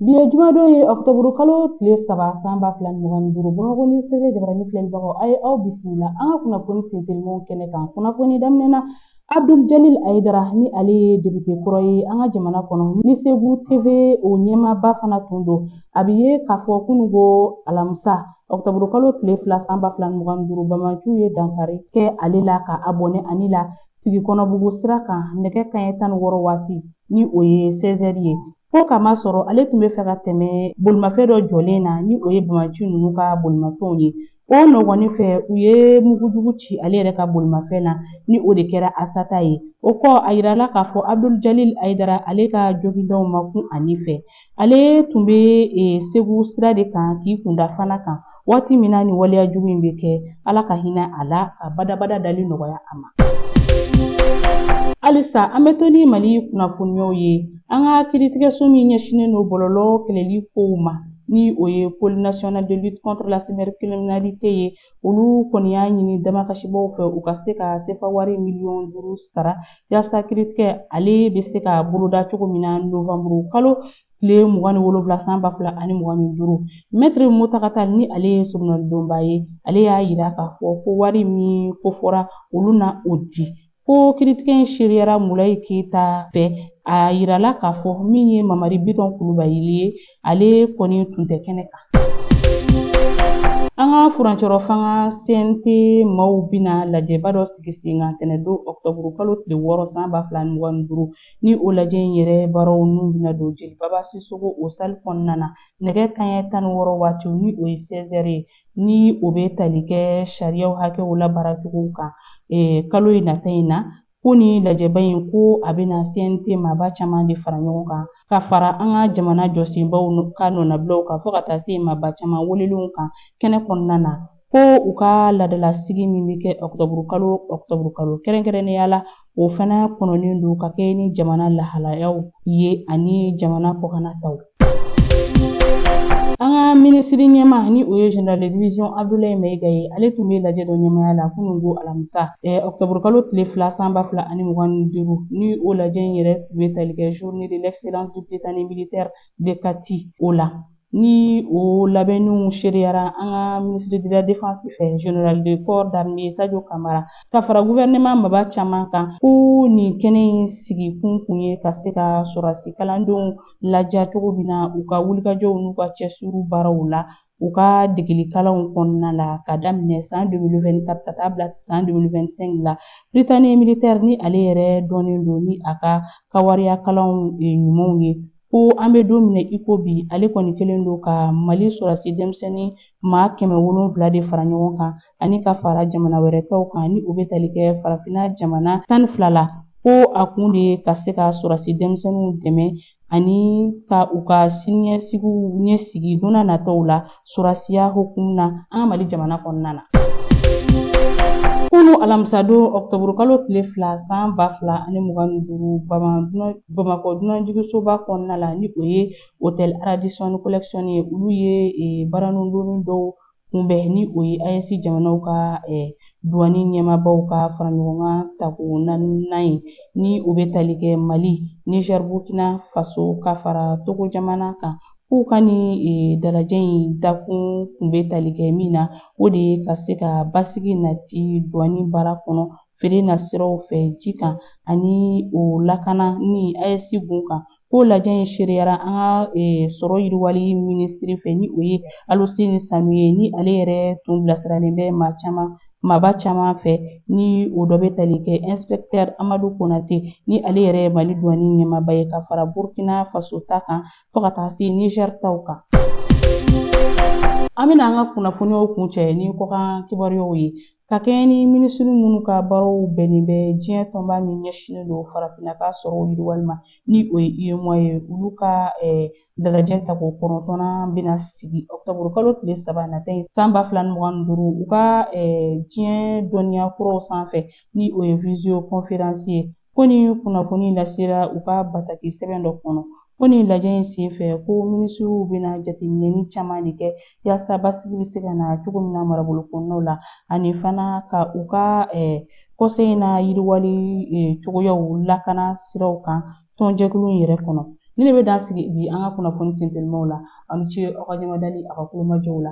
Bi ye jumadon ye ɔkutɔburu kalo tile saba san ba fila ni mugan ni duuru bamakɔ news tv jabarani filɛlibagaw a ye aw bisimila an ka kunnafoni sentelimanw kɛnɛ kan kunnafoni daminɛ na abdul jalil ayidara ni ale ye depite kɔrɔ ye an ka jamana kɔnɔ ni segu tv o ɲɛmaaba fana tun don a bɛ ye k'a fɔ kunun ko alamisa ɔkutɔburu kalo tile fila san ba fila ni mugan ni duuru bamaciw ye dankari kɛ ale la ka a bɔnɛ a ni la segu kɔnɔbugu sira kan nɛgɛ kanɲɛ tan ni wɔɔrɔ waati ni o ye seize heures ye Ko k'a masɔrɔ ale tun bɛ fɛ ka tɛmɛ bolimafɛn dɔ jɔlen na ni o ye bamaci ninnu ka bolimafɛnw ye o nɔgɔni fɛ u ye mugujugu ci ale yɛrɛ ka bolimafɛn na ni o de kɛra a sata ye o kɔ a yirala k'a fɔ abdul jalil ayidara ale ka jogindaw ma kun a ni fɛ ale tun bɛ e, segu sira de kan k'i kunda fana kan Waati min na ni waleya jugu in bɛ kɛ ala ka hinɛ a la ka badabada dali nɔgɔya a ma halisa an bɛ to ni mali kunnafoniyaw ye an ka kiritigɛso min ɲɛsinnen don bɔlɔlɔ kɛlɛli kow ma ni o ye pole national de lutte contre la cybercriminalité ye olu kɔni y'a ɲini damakasibaw fɛ u ka se ka sefa wari miliyɔn duuru sara yaasa kiritigɛ ale bɛ se ka boloda cogo min na novanburu kalo tile mugan ni wolonwula san ba fila ani mugan ni duuru mɛtiri mutaga tall ni ale ye soronadonba ye ale y'a yira k'a fɔ ko wari min kofɔra olu na o di ko kiritigɛ in seereyara mulayi keyita fɛ a yirala k'a fɔ min ye mamari bitɔn kulubali ye ale kɔni tun tɛ kɛnɛ kan an ka furancɛrɔ fanga cnt maaw bɛna lajɛba dɔ sigi sen kan tɛnɛdon ɔkutɔburu kalo tile wɔɔrɔ san ba fila ni mugan ni duuru Ni o lajɛ in yɛrɛ baaraw n'u bɛna don Jelibaba Sisoko o salle kɔnɔna na nɛgɛ kanɲɛ tan ni wɔɔrɔ waatiw ni o ye 16 heures ye ni o bɛ tali kɛ sariyaw hakɛw labaaracogow kan kalo in nata in na ko ni lajɛba in ko a bɛna CNT maaba caman de fara ɲɔgɔn kan ka fara an ka jamana jɔsenbaw ka nɔnabilaw kan fo ka taa se maaba caman welelenw kan kɛnɛ kɔnɔna na. ko u ka laadalasigi min bɛ kɛ ɔkutɔburukalo ɔkutɔburukalo kɛrɛnkɛrɛnnenya la o fana kɔnɔnen don ka kɛ ni jamana lahalayaw ye ani jamana kɔkanna taw an ka minisiri ɲɛmaa ni o ye general de division abdulayi mayiga ye ale tun bɛ lajɛ dɔ ɲɛmaya la kunun ko alamisa eh, ɔkutɔburukalo tile fila san ba fila ani mugan ni duuru ni o lajɛ in yɛrɛ tun bɛ tali kɛ journée de l'excellence du prytanée militaire de kati o la Ni o labɛnniw seereyara an ka ministre de la défense fɛ general de corps d'armée Sadio Kamara ka fara gouvernement maaba caman kan ko nin kɛnɛ in sigi kun kun ye ka se ka sɔrɔdasi kalandenw ladiya cogo min na u ka wulikajɔw n'u ka cɛsiri baaraw la u ka degeli kalanw kɔnɔna la ka daminɛ san 2024 ka taa bila san 2025 la Prytanée militaire ni ale yɛrɛ dɔnnen don ni a ka kawariya kalanw ɲumanw ye ko an bɛ don min na i ko bi ale kɔni kɛlen don ka mali sɔrɔdasi denmisɛnnin maa kɛmɛ wolonwula de fara ɲɔgɔn kan ani ka fara jamana wɛrɛ tɔw kan ni o bɛ tali kɛ farafinna jamana tan ni fila la ko a kun de ye ka se ka sɔrɔdasi denmisɛnninw dɛmɛ ani ka u ka siniɲɛsigiw ɲɛsigi don n'a nataw la sɔrɔdasiya hukumu na an ka mali jamana kɔnɔna na kunu alamisadon ɔkutɔburukalo tile fila san ba fila ani mugan ni duuru bamakɔ dunanjigisoba kɔnɔna la ni o ye hotel Radisson collection ye olu ye e, baranundonni dɔw kunbɛn ni o ye AES jamanaw ka e, duwani ɲɛmaabaw ka fara ɲɔgɔn kan tako naaninan ye ni o bɛ tali kɛ Mali, Niger, Burkina Faso ka fara Togo jamana kan. K'u ka nin e, dalajɛ in dakun kun bɛ tali kɛ min na o de ye ka se ka basigi nati duwani baara kɔnɔ feere na siraw fɛ ji kan ani o lakana ni AES gun kan ko lajɛ in seereyara an ka e, sɔrɔ yiriwali minisiri fɛ ni o ye aluseni sanu ye ni ale yɛrɛ tun bilasiralen bɛ maaba caman fɛ ni o dɔ bɛ tali kɛ inspecteur amadu konate ni ale yɛrɛ ye mali duwani ɲɛmaaba ye ka fara burkina faso ta kan fo ka taa se Niger taw kan. An bɛna an ka kunnafoniyaw kuncɛ ni kɔkan kibaruyaw ye ka kɛɲɛ ni minisiri minnu ka baaraw bɛnnen bɛ diɲɛ tɔnba min ɲɛsinnen don farafinna ka sɔrɔw yiriwali ma ni o ye UEMOA ye olu ka dalajɛ tako kɔnɔntɔnnan bɛna sigi ɔkutɔburu kalo tile saba nata in san ba fila ni mugan ni duuru u ka diɲɛ dɔnniya kuraw sanfɛ ni o ye visio kɔnferansi ye Ko nin kunnafoni lasera u ka bataki sɛbɛn dɔ kɔnɔ ko nin lajɛ in senfɛ ko minisiriw bɛna jateminɛni caman de kɛ yaasa basigi bɛ se ka na cogo min na marabolo kɔnɔnaw la ani fana ka u ka conseil in na yiriwali cogoyaw lakana siraw kan tɔnjɛkulu in yɛrɛ kɔnɔ nin de bɛ dan sigi bi an ka kunnafoni tentɛlimaw la aw ni ce aw ka ɲɛmadali aw ka tulomajɔw la